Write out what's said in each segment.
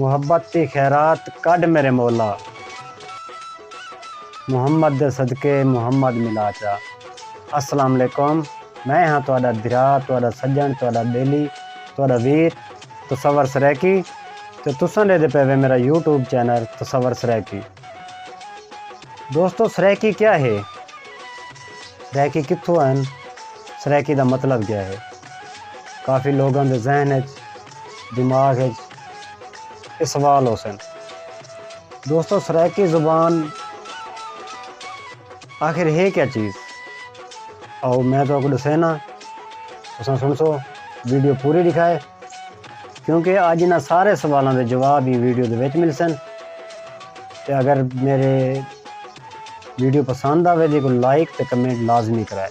محبت دی خیرات کڈھ میرے مولا۔ محمد دے صدقے محمد ملا چا۔ السلام علیکم میں ہاں تہاڈا بھرا تہاڈا سجن تہاڈا بیلی تہاڈا ویر تصور سرائیکی تے تساں ڈیدھے پئے وے میرا یوٹیوب چینل تصور سرائیکی دوستو سرائیکی کیا ہے سرائیکی کتھوں آئن سرائیکی دا مطلب کیا ہے کافی لوگاں دے ذہن اچ دماغ اچ اے سوال ہوسن۔ دوستو سرائیکی زبان آخر ہے کیا چیز؟ آؤ میں تہاکوں ڈسینا تساں سنسو ویڈیو پوری ڈکھائے کیونکہ اج انہاں سارے سوالاں دے جواب ہی ویڈیو دے وچ ملسن تے اگر میرے ویڈیو پسند آوے تے کوئی لائک تے کمنٹ لازمی کرائے۔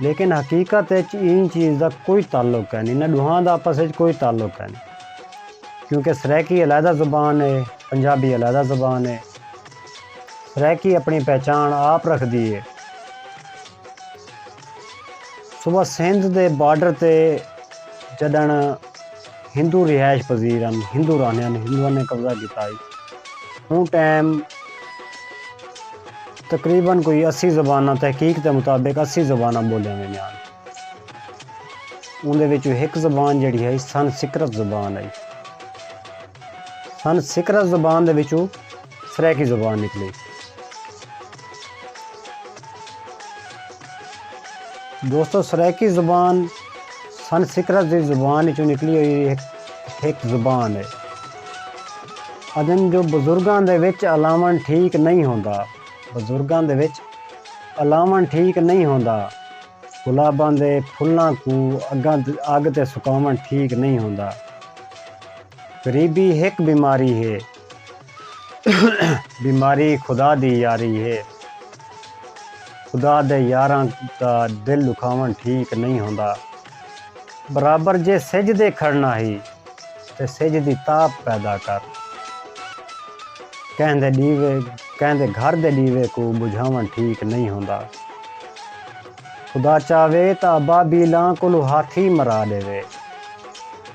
لیکن حقیقت اچ ایں چیز دا کوئی تعلق کینی انہاں ڈوہاں دا آپس اچ کوئی تعلق کینی کیونکہ سرائیکی علیحدہ زبان ہے پنجابی علیحدہ زبان ہے سرائیکی اپنی پہچان آپ رکھ دی ہے صبح سندھ دے بارڈر تے جڈن ہندو رہائش پذیر ہن ہندو رہنے ہن ہندوؤں نے قبضہ کیتا ہے ہوں ٹائم تقریبا کوئی اسی زباناں تحقیق دے مطابق اسی زباناں ٻولیاں ویندیاں ہن۔ اوندے وچوں ہک زبان جیڑھی ہئی سن سکرت زبان ہئی۔ سن سکرت زبان دے وچوں سرائیکی زبان نکلی۔ دوستو سرائیکی زبان سنسکرت دی زبان وچوں نکلی ہوئی ہک زبان ہے ادن جو بزرگاں دے وچ الاون ٹھیک نہیں ہوندا بزرگاں دے وچ الاون ٹھیک نہیں ہوندا گلاباں دے پھلاں کو اگاں اگ تے سکاون ٹھیک نہیں ہوندا غریبی ہک بیماری ہے بیماری خدا دی یاری ہے۔ خدا دے یاراں دا دل دکھاون ٹھیک نئیں ہوندا۔ برابر جے سج دے کھڑنا ہی تے سج دی تاپ پیدا کر۔ کہیں دے ڈیوے کہیں دے گھر دے ڈیوے کوں بجھاون ٹھیک نئیں ہوندا۔ خدا چاہوے تاں ابابیلاں کولوں ہاتھی مرا ڈیوے۔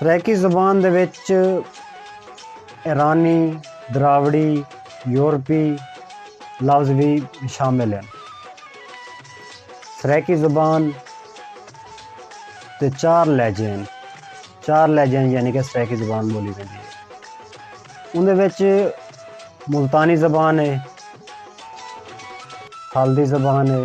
سرائیکی زبان دے وچ ایرانی، دراوڑی، یورپی لفظ وی شامل ہن۔ سرائیکی زبان دے چار لہجے ہن۔ چار لہجے ہن یعنی کہ سرائیکی زبان بولی ویندی ہے۔ اندے وچ ملتانی زبان ہے، خالدی زبان ہے،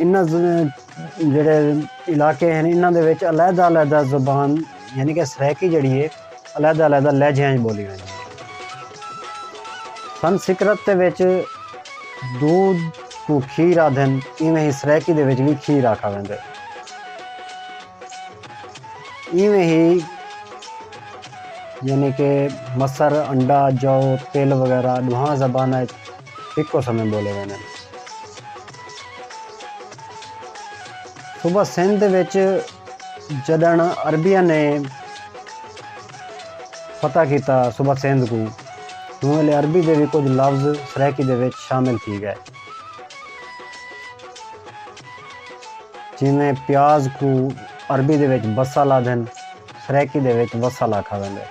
انہاں جیڑھے علاقے ہیں انہاں دے وچ علیحدہ علیحدہ زبان یعنی کہ سرائیکی جڑی ہے علیحدہ علیحدہ لہجیاں وچ بولی ویندی ہے سنسکرت دے وچ دودھ کو کھیر آدھن ایویں ہی سرائیکی دے وچ وی کھیر آکھا ویندے ایویں ہی یعنی کہ مسر انڈا جو تیل وغیرہ ڈوہاں زباناں ہکو سمیں ٻولے ویندن۔ صوبہ سندھ وچ جݙݨ عربیاں نے فتح کیتا صوبہ سندھ کوں اوں ویلے عربی دے وی کجھ لفظ سرائیکی دے وچ شامل تھی ڳئے۔ جیویں پیاز کوں عربی دے وچ بصل آہدن سرائیکی دے وچ وصل آکھا ویندے۔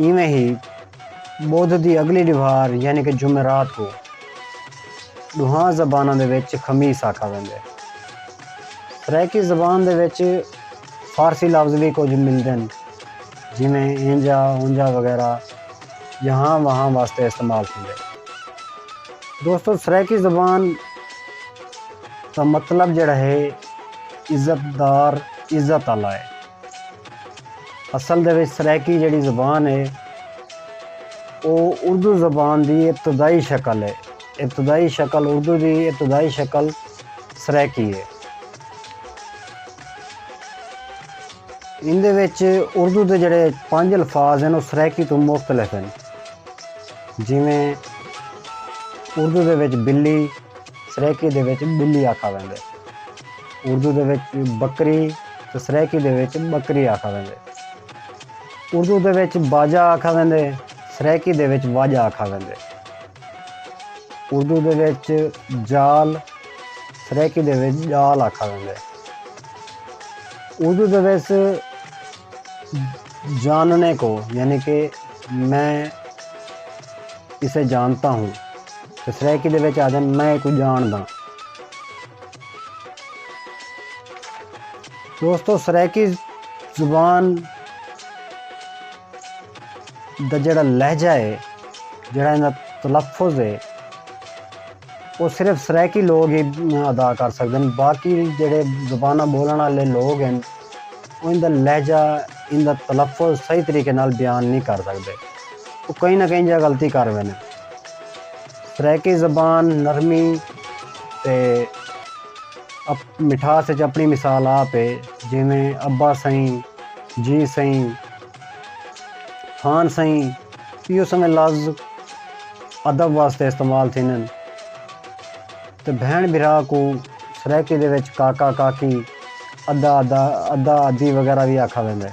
ایویں ہی۔ بدھ دی اڳلی ݙوہار یعنی کہ جمعرات کوں ݙوہاں زباناں دے وچ خمیس آکھا ویندے۔ سرائیکی زبان دے وچ فارسی لفظ وی کجھ ملدن جیویں اینجھا، اونجھا وغیرہ یہاں وہاں واسطے استعمال تھیندے۔ دوستو سرائیکی زبان دا مطلب جیڑھا ہے عزت دار، عزت آلا ہے۔ اصل دے وچ سرائیکی جیڑھی زبان ہے او اردو زبان دی ابتدائی شکل ہے۔ ابتدائی شکل اردو دی ابتدائی شکل سرائیکی ہے۔ ان دے وچ اردو دے جڑے پنج الفاظ ہیں او سرائیکی تو مختلف ہیں جیویں اردو دے وچ بلی، سرائیکی دے وچ ٻلی آکھا ویندے۔ اردو دے وچ بکری تے سرائیکی دے وچ ٻکری آکھا ویندے۔ اردو دے وچ باجا آکھا ویندے سرائیکی دے وچ واجا آکھا ویندے۔ اردو دے وچ جال سرائیکی دے وچ ڄال آکھا ویندے۔ اردو دے وچ جاننے کو یعنی کہ میں اسے جانتا ہوں۔ تے سرائیکی دے وچ آہدن میں ایکوں ڄاݨداں۔ دوستو سرائیکی زبان دا جیڑھا لہجہ ہے جیڑھا ایندا تلفظ ہے او صرف سرائیکی لوگ ہی ادا کر سڳدن باقی جیڑھے زباناں ٻولݨ آلے لوگ ہن او ایندا لہجہ ایندا تلفظ صحیح طریقے نال بیان نی کر سڳدے او کہیں نہ کہیں جگہ غلطی کر ویندن۔ سرائیکی زبان نرمی تے مٹھاس اچ اپݨی مثال آپ ہے جیویں ابا سئیں، جی سئیں، خان سئیں ایہو سویں لفظ ادب واسطے استعمال تھیندن تے بھیݨ بھرا کوں سرائیکی دے وچ کاکا، کاکی، ادا، ادا، ادا، ادی وغیرہ وی آکھا ویندا ہے۔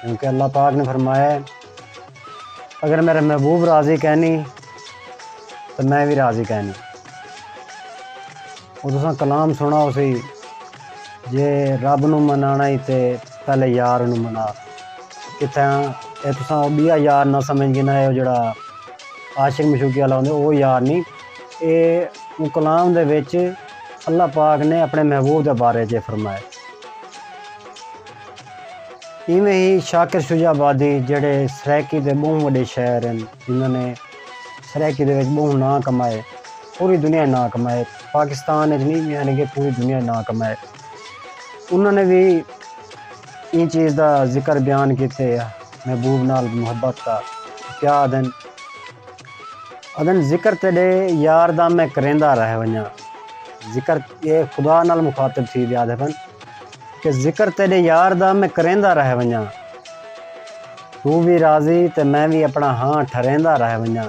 کیونکہ اللہ پاک نے فرمایا ہے اگر میرے محبوب راضی کہنی تو میں بھی راضی کہنی وہ تسا کلام سنا اسی جے رب نو منانا ہی تے پہلے یار نو منا کتھے ہاں اے تسا او بیا یار نہ سمجھ گنا ہے او جڑا عاشق مشوقی والا ہوندے او یار نہیں اے او کلام دے وچ اللہ پاک نے اپنے محبوب دے بارے جے فرمائے ایویں ہی شاکر شجاع آبادی جیڑھے سرائیکی دے ٻہوں وݙے شاعر ہن جنہاں نے سرائیکی دے وچ ٻہوں ناں کمائے پوری دنیا اچ ناں کمائے پاکستان اچ نی یعنی کہ پوری دنیا اچ ناں کمائے انہاں نے وی ایں چیز دا ذکر بیان کیتے محبوب نال محبت دا کیا آدھن آدھن ذکر تیڈے یار دا میں کریندا رہ ونجاں ذکر اے خدا نال مخاطب تھی دے آدھے پن کہ ذکر تیݙے یار دا میں کریندا رہ ونڄاں توں وی راضی تے میں وی اپݨا ہاں ٹھریندا رہ ونڄاں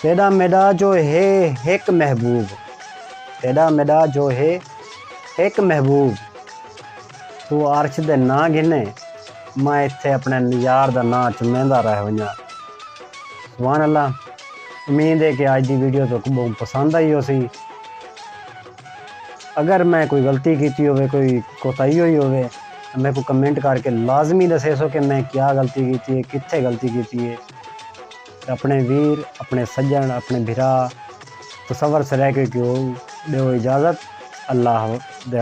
تیݙا میݙا جو ہے ہک محبوب تیݙا میݙا جو ہے ہک محبوب توں عرش دے ناں گھنے میں اتھے اپݨے یار دا ناں چمیندا رہ ونڄاں سبحان اللہ امید ہے کہ اج دی ویڈیو تہاکوں ٻہوں پسند آئی ہوسی۔ اگر میں کوئی غلطی کیتی ہووے کوئی کوتاہی ہوئی ہووے تاں میکوں کمنٹ کر کے لازمی دسیسو کہ میں کیا غلطی کیتی ہے کتھے غلطی کیتی ہے تے اپنے ویر اپنے سجن اپنے بھرا تصور سے رہ کے کیوں ڈیو اجازت اللہ دے